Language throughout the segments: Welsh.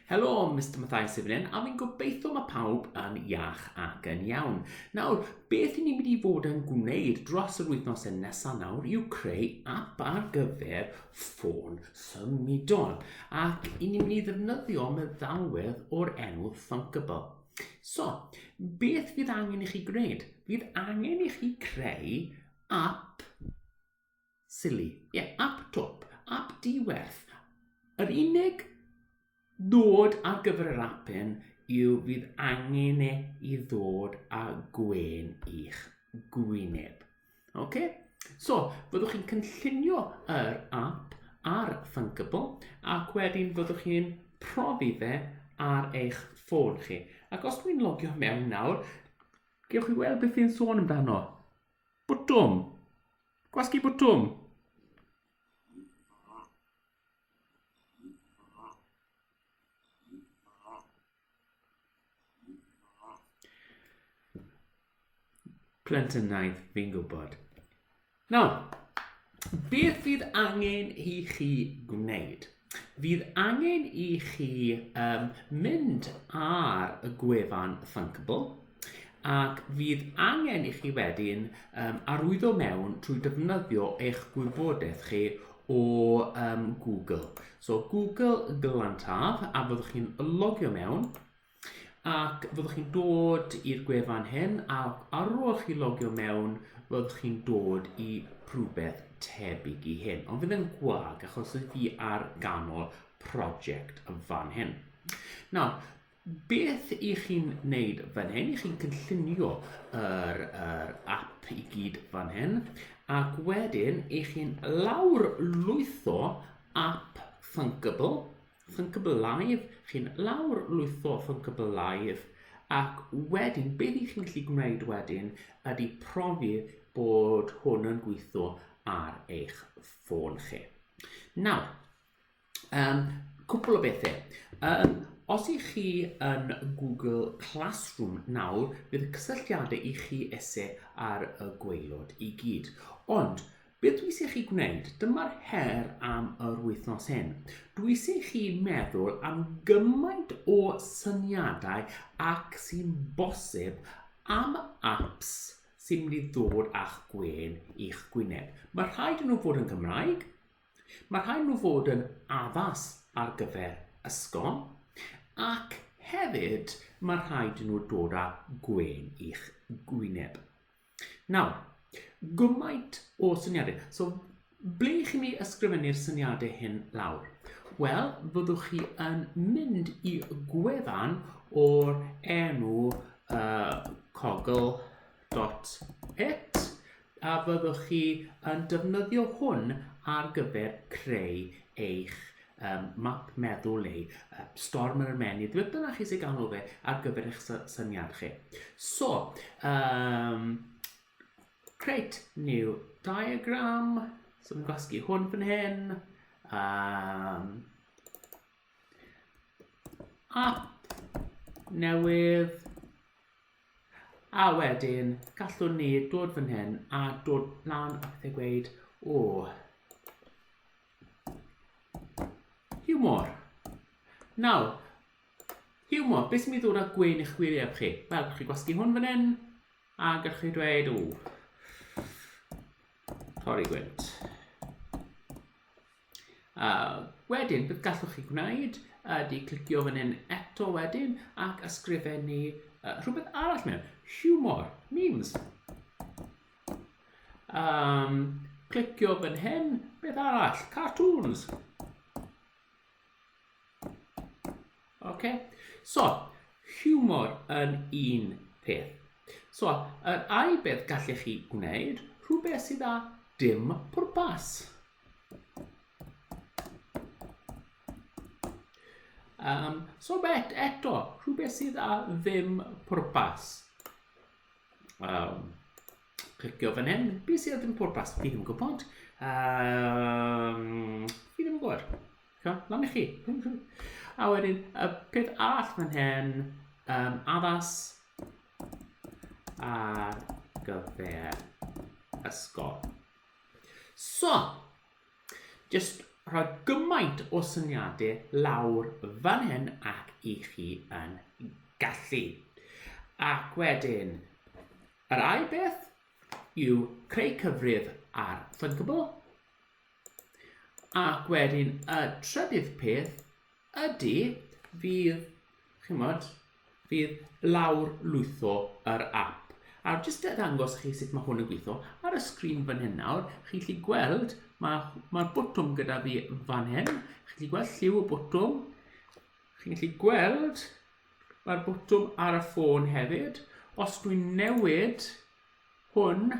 Helo, Mr Mathai Sifryn, a fi'n gobeithio mae pawb yn iach ac yn iawn. Nawr, beth i ni'n mynd i fod yn gwneud dros yr wythnos yn nesaf nawr yw creu app ar gyfer ffôn symudol. Ac i ni'n mynd i ddefnyddio meddalwedd o'r enw Thunkable. So, beth fydd angen i chi gwneud? Fydd angen i chi creu app Silly. Ie, ap twp, ap di-werth. Yr unig nod ar gyfer yr ap hyn yw fydd angen e i ddod â gwen i'ch gwyneb. Ok? So, fyddwch chi'n cynllunio yr app ar Thunkable ac wedyn fyddwch chi'n profi fe ar eich ffôn chi. Ac os dwi'n logio mewn nawr, gewch chi weld beth fi'n sôn amdano. Bwtwm. Gwasgu bwtwm. Plentynnaidd, fi'n gwybod. Nawr, beth fydd angen i chi gwneud? Fydd angen i chi um, mynd ar y gwefan Thunkable ac fydd angen i chi wedyn um, arwyddo mewn trwy defnyddio eich gwybodaeth chi o um, Google. So Google Glantaf a fyddwch chi'n logio mewn Ac fyddwch chi'n dod i'r gwefan hyn a ar ôl chi logio mewn fyddwch chi'n dod i rhywbeth tebyg i hyn ond fydd yn gwag achos oedd fi ar ganol prosiect yn fan hyn. Nawr, beth i chi'n neud fan hyn, i chi'n cynllunio yr, yr app i gyd fan hyn ac wedyn i chi'n lawr lwytho app Thunkable Ffyncbylaidd, chi'n lawr lwytho ffyncbylaidd ac wedyn be dych chi'n gallu gwneud wedyn ydy profi bod hwn yn gweithio ar eich ffôn chi. Nawr, um, cwpl o bethau. Um, os ych chi yn Google Classroom nawr, bydd y cysylltiadau i chi ese ar y gweilod i gyd. Ond Beth dwi eisiau chi gwneud? Dyma'r her am yr wythnos hyn. Dwi eisiau chi meddwl am gymaint o syniadau ac sy'n bosib am apps sy'n mynd i ddod a'ch gwên i'ch gwyneb. Mae rhaid yn nhw fod yn Gymraeg, mae rhaid yn nhw fod yn addas ar gyfer ysgol, ac hefyd mae rhaid yn nhw dod â gwên i'ch gwyneb. Nawr, gymaint o syniadau. So, ble i chi mi ysgrifennu'r syniadau hyn lawr? Wel, fyddwch chi yn mynd i gwefan o'r enw uh, cogl.it a fyddwch chi yn defnyddio hwn ar gyfer creu eich Ym map meddwl neu storm yr ymennydd, beth bynnag chi sy'n galw fe ar gyfer eich syniad chi. So, um, create new diagram. So, mi'n gwasgu hwn fan hyn. Um, app newydd. A wedyn, gallwn ni dod fan hyn a dod lan a pethau gweud, o, Hiwmor. Nawr, hiwmor, beth sy'n mynd i ddod â gwein eich wyneb chi? Wel, chi gwasgu hwn fan hyn, a gallwch chi dweud, ww, torri gwynt. Uh, wedyn, beth gallwch chi gwneud ydy clicio fan hyn eto wedyn ac ysgrifennu uh, rhywbeth arall mewn. Hiwmor, memes. Um, clicio fan hyn, beth arall? Cartoons. OK, so, humor yn un peth. So, yr ai beth gallech chi gwneud, rhywbeth sydd â dim pwrpas. Um, so bet eto, rhywbeth sydd â ddim pwrpas. Um, clicio fan hyn. Be sydd ddim pwrpas? Fi ddim yn gwybod. Um, fi ddim yn gwybod. Ca, lan i chi. A wedyn, y peth all fan hyn, um, addas ar gyfer ysgol. So, Jyst rhoi gymaint o syniadau lawr fan hyn ac i chi yn gallu. Ac wedyn, yr ail beth yw creu cyfrif ar Thinkable. Ac wedyn, y trydydd peth Ydy, fydd, chimod, fydd lawr lwytho yr app. A jyst e ddangos chi sut mae hwn yn gweithio, ar y sgrin fan hyn nawr, chi'n gallu gweld, mae'r mae botwm gyda fi fan hyn, chi'n gallu gweld lliw y botwm, chi'n gallu gweld mae'r botwm ar y ffôn hefyd. Os dwi'n newid hwn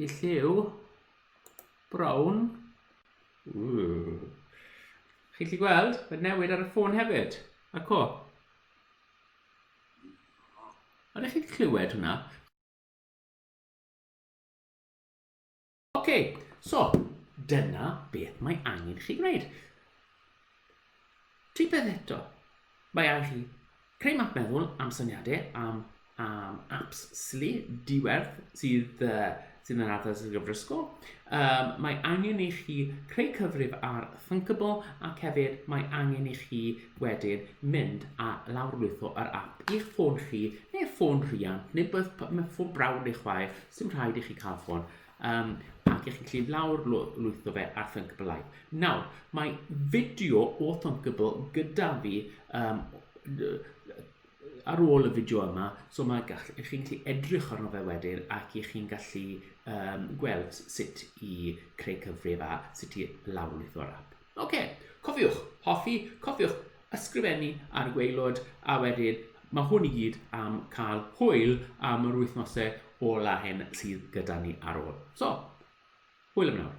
i lliw brown, Ww. Chi'n gallu gweld? Mae'n newid ar y ffôn hefyd. A co. Ond ych chi'n clywed hwnna? Oce, okay, so dyna beth mae angen chi gwneud. Rhywbeth eto. Mae angen chi creu map meddwl am syniadau am, am apps sili, diwerth sydd, uh, sydd yn addas y gyfrysgol. Um, mae angen i chi creu cyfrif ar Thinkable ac hefyd mae angen i chi wedyn mynd a lawrlwytho yr app i'ch ffôn chi neu ffôn rhiant neu beth, ffôn brawd neu chwaer, sy'n rhaid i chi cael ffôn Um, ac ych chi'n gallu lawr lwytho fe ar Thunkable Nawr, mae fideo o Thunkable gyda fi um, ar ôl y fideo yma, so mae gall, ych chi'n gallu edrych arno fe wedyn ac ych chi'n gallu um, gweld sut i creu cyfrif a sut i lawrlwytho'r app. Ok, cofiwch hoffi, cofiwch ysgrifennu ar waelod a wedyn mae hwn i gyd am cael hwyl am yr wythnosau ola hyn sydd gyda ni ar ôl. So, hwyl am nawr.